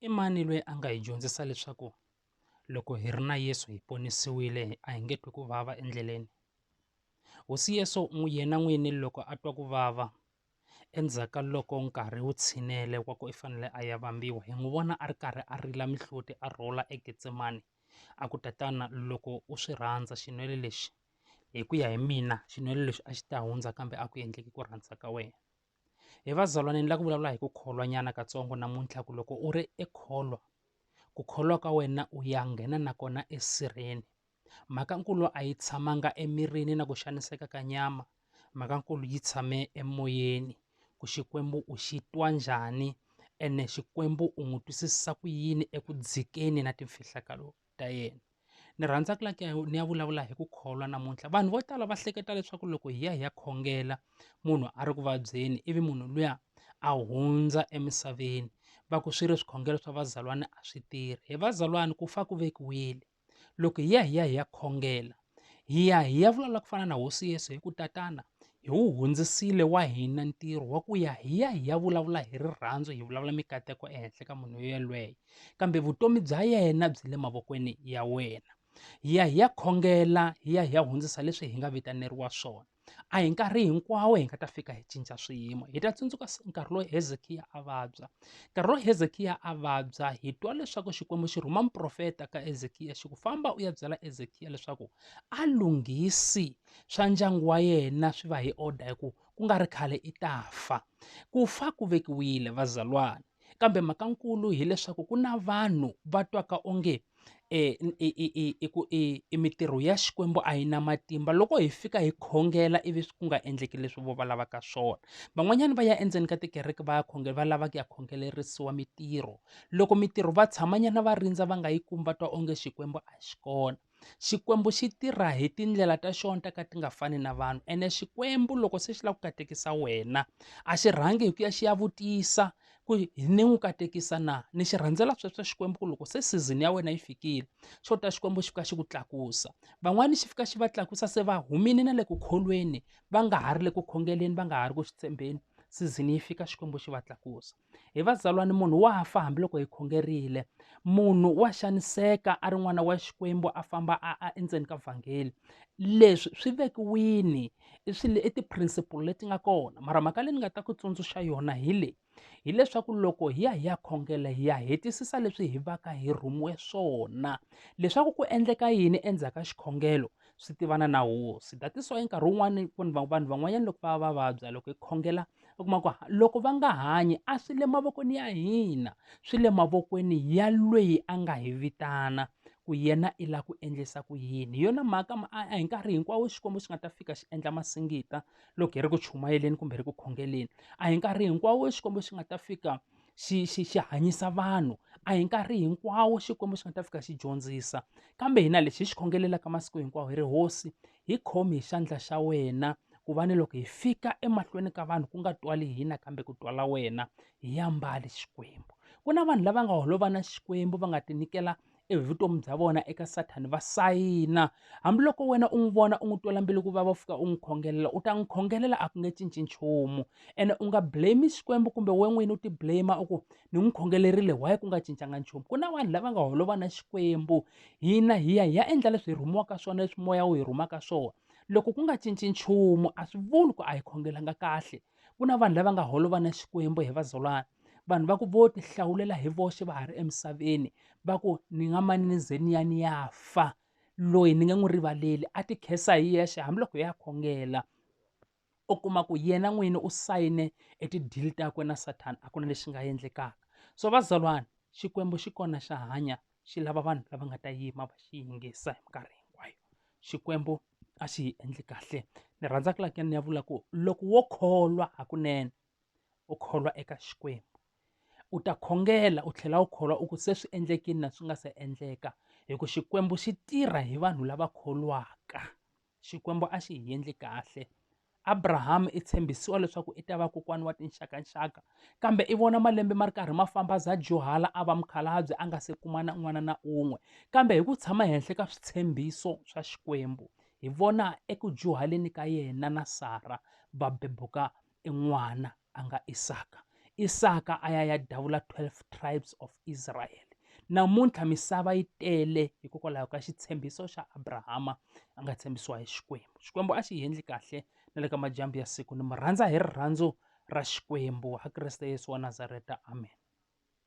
I mani loyi a nga hi dyondzisa leswaku loko hi ri na Yesu hi ponisiwile a hi nge twi ku vava endleleni? Hosi Yesu yena n'wini loko a twa ku vava endzhaku ka loko nkarhi wu tshinele wa ku i fanele a ya vambiwa hi n'wi vona a ri karhi a rila mihloti a rhula eGetsemane a ku, Tatana loko u swi rhandza xinwele lexi hi ku ya hi mina xinwele lexi a xi ta hundza kambe a ku endleki ku rhandza ka wena. He vazalwane ni la ku vulavula hi ku kholwa nyana katsongo namuntlha ku loko u ri ekholwa ku kholwa ka wena u ya nghena na kona esirheni mhaka nkulu a yi tshamanga emirini na ku xaniseka ka nyama mhaka nkulu yi tshame emoyeni ku Xikwembu u xi twa njhani ene Xikwembu u n'wi twisisa ku yini eku dzikeni na timfihlakalo. ta yena ni rhandza ku laki ni ya vulavula hi ku kholwa namuntlha vanhu vo tala va hleketa leswaku loko hi ya hi ya khongela munhu a ri ku vabyeni ivi munhu luya a hundza emisaveni va ku swi ri swikhongelo swa vazalwana a swi tirhi hi vazalwana ku fa ku vekiwile loko hi ya hi ya hi ya khongela Hi ya hi ya vulavula ku fana na hosi Yesu hi ku tatana hi wu hundzisile wa hina ntirho wa ku ya hi ya hi ya vulavula hi rirhandzu hi vulavula mikateko ehenhla ka munhu yelweyo kambe vutomi bya yena byi le mavokweni ya wena hi ya hi ya khongela hi ya hi ya hundzisa leswi hi nga vitaneriwa swona A hi nkarhi hinkwawo hi nga ta fika hi cinca swiyimo. Hi ta tsundzuka nkarhi lowu Hezekiya a vabya. Nkarhi lowu Hezekiya a vabya hi twa leswaku Xikwembu xi rhuma muprofeta ka Hezekiya xi ku famba u ya byela Hezekiya leswaku a lunghisi swa ndyangu wa yena swi va hi order hi ku ku nga ri khale i ta fa. Ku fa ku vekiwile vazalwana. kambe mhaka nkulu hileswaku ku na vanhu va twaka onge e, i, i, i, i, ku- i, i mintirho ya xikwembu a yi na matimba loko hi fika hi khongela ivi ku nga endleki leswi vo va lavaka swona van'wanyana va ya endzeni ka tikereke va ya khongela va lava ku ya khongelerisiwa mintirho loko mintirho va tshamanyana va rindza va nga yi kumi va twa onge xikwembu a xi kona Xikwembu xi tirha hi tindlela ta xona ta ka ti nga fani na vanhu ene Xikwembu loko se xi lava ku katekisa wena a xi rhangi hi ku ya xi ya vutisa ku ni n'wi katekisa na ni xi rhandzela sweswo Xikwembu ku loko se season ya wena yi fikile xo ta Xikwembu xi fika xi ku tlakusa van'wani xi fika xi va tlakusa se va humini na le ku kholweni va nga ha ri le ku khongeleni va nga ha ri ku swi tshembeni season yi fika Xikwembu xi va tlakusa hi vazalwani munhu wa fa hambiloko hi khongerile munhu wa xaniseka a ri n'wana wa xikwembu a famba a a endzeni ka vhangeli leswi swi vekiwini i swi i ti-principle leti nga kona mara mhaka leyi ni nga ta ku tsundzuxa yona hi leyi hileswaku loko hi ya hi ya khongela hi ya hetisisa leswi hi vaka hi rhumiwe swona leswaku ku endleka yini endzhaku ka xikhongelo swi tivana na hosi datiso i nkarhi wun'wani vanhu van'wanyana loko va va vabya loko hi khongela u kuma ku loko va nga hanyi a swi le mavokweni ya hina swi le mavokweni ya lweyi a nga hi vitana ku yena i la ku endlisa ku yini hi yona mhaka a hi nkarhi hinkwawo xikwembu xi nga ta fika xi endla masingita loko hi ri ku chumayeleni kumbe hi ri ku khongeleni a hi nkarhi hinkwawo xikwembu xi nga ta fika xi xi xi hanyisa vanhu a hi nkarhi hinkwawo xikwembu xi nga ta fika xi dyondzisa kambe hina lexi hi xi khongelelaka masiku hinkwawo hi ri hosi Hi khomi hi xandla xa wena, ku va ni loko hi fika emahlweni ka vanhu ku nga twali hina kambe ku twala wena. Hi ya mbali Xikwembu. Ku na vanhu lava nga holova na Xikwembu va nga tinyikela e vutomi bya vona eka Sathana va sayina. Hambiloko wena u n'wi vona u n'wi twela mbilu ku vava u fika u n'wi khongelela, u ta n'wi khongelela a ku nge cinci nchumu. Ene u nga blame-i Xikwembu kumbe wena n'wini u ti blame-a u ku, ni n'wi khongelerile why ku nga cincanga nchumu? Ku na vanhu lava nga holova na Xikwembu, hina hi ya hi ya endla leswi hi rhumiwaka swona leswi moya wu hi rhumaka swona loko ku nga cinci nchumu a swi vuli ku a hi khongelanga kahle ku na vanhu lava nga holova na xikwembu hi vazalwana vanhu va ku vo ti hlawulela hi voxe va ha ri emisaveni va ku ni nga mani ni ze ni ya ni ya fa loyi ni nge n'wi rivaleli a ti khensa hi yexe hambiloko hi ya khongela u kuma ku yena n'wini u sayine e ti-deal takwe na Satan a ku na lexi nga endlekaka so vazalwana Xikwembu xi kona xa hanya xi lava vanhu lava nga ta yima va xi yingisa hi minkarhi hinkwayo Xikwembu a xi hi endli kahle ni rhandza ku laka ni ya vula ku loko wo kholwa hakunene u kholwa eka Xikwembu u ta khongela u tlhela u kholwa u ku se swi endlekile na swi nga se endleka hi ku Xikwembu xi tirha hi vanhu lava kholwaka Xikwembu a xi hi endli kahle. Abraham i tshembisiwa leswaku i ta va kokwana wa tinxakanxaka, kambe i vona malembe ma ri karhi ma famba za dyuhala a va mukhalabye a nga se kuma na n'wana na un'we. Kambe hi ku tshama henhla ka switshembiso swa Xikwembu, hi vona eku dyuhaleni ka yena na Sara va bebuka i n'wana a nga Isaka Isaka a ya ya davula 12 tribes of Israel namuntlha misava yi tele hikokwalaho ka xitshembiso xa Abrahama a nga tshembisiwa hi Xikwembu Xikwembu a xi yendli kahle na le ka madyambu ya siku ni mu rhandza hi rirhandzu ra Xikwembu ha Kriste Yesu wa Nazareta amen